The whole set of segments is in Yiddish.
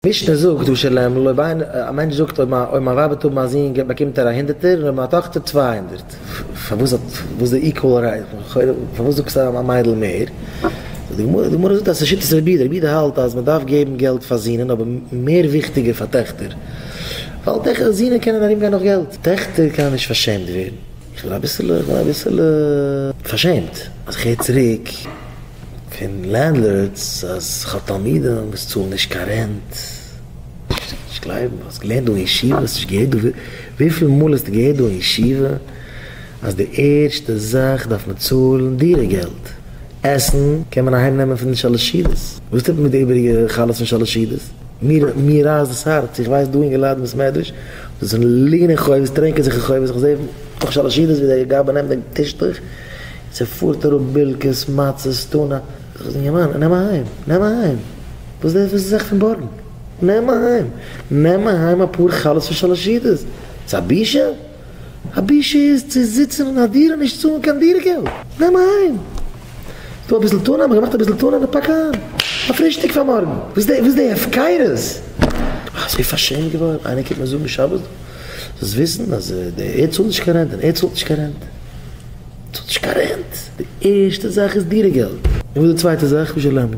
משנה זאגט דא שלמ ל אויב א מענטש זאגט אויב מיין ווייב וועט האבן א זון באקומט ער א הונדערטער און אויב מיין טאכטער צוויי הונדערט, פארוואס וואס איז די איקוועל רעי, פארוואס זאגסטו אז א מיידל מער, זאגט די גמרא, די גמרא זאגט אז עס איז שיטת רבי יהודה, רבי יהודה האלט אז מען דארף געבן געלט פאר זוהן אבער מער וויכטיגער פאר טעכטער, ווייל זוהן קענען ארום גיין נאך געלט, טעכטער קענען נישט פארשעמט ווערן. איך בין אביסעלע איך בין אביסעלע פארשעמט אז איך הער צוריק פון לענדלארדס אז איך האב תלמידים וואס צאלן נישט קיין רענט. נישט צו נישט גלייבן. האסט געלערנט דא אין ישיבה? האסט נישט געהערט דא וויפיל מאל האסטו געהערט דא אין ישיבה אז די ערשטע זאך דארף מען צאלן דירה געלט? עסן קען מען אהיים נעמען פון די שאלעשידעס. וואס טוט מען מיט די איבעריגע חלות פון שאלעשידעס? מיר רייסט דאס הארץ, איך ווייס דא אינגע לייט אין בית מדרש וואס זענען ליגן אין חובות, טרענקען זיך אין חובות, איך זעה נאך שלש ידות ווי דער גבאי נעמט דעם טישטוך און ס'פארט אראפ בילקעס, מצות, טונא, זאג איך אינגערמאן, נעם אהיים, נעם אהיים, וואס איז דאס זיך פארבארגן, נעם אהיים, נעם אהיים אפאר חלות פון שלש ידות, ס'איז א בושה? א בושה איז צו זיצן אין א דירה נישט צאלן קיין דירה געלט, נעם אהיים ס'איז דא אביסל טונא, מ'געמאכט אביסל טונא און פאק איין א פרישטאג פאר מארגן, וואס איז די הפקרות? איך בין אזוי פארשעמט געווארן, איינער קומט מיר זאגן שבת דא, זאלסט וויסן אז ער צאלט נישט קיין רענט און ער צאלט נישט קיין רענט, צאלט נישט קיין רענט, די ערשטע זאך איז דירה געלט. און וואס איז די צווייטע זאך? משלנו.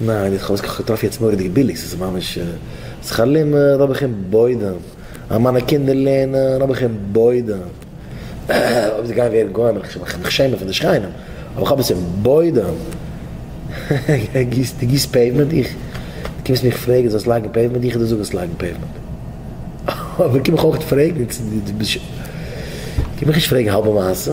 ניין איך האב עס געטראפן יעצט מוראדיג ביליג ס'איז ממש שכר לימוד האב איך אין בוידעם אז מיינע קינדער לערנען האב איך אין בוידעם אויב זיי גייען ווערן גוים וועל איך מיך שעמען פון די שכנים אבער איך האב עס אין בוידעם דו גיסט פעיוומענט איך דו קומסט מיך פרעגן איך זאל עס לייגן פעיוומענט איך דיר זאגן איך זאל עס לייגן פעיוומענט אבער קום מיך אויך נישט פרעגן קום מיך נישט פרעגן האלבע מעשה.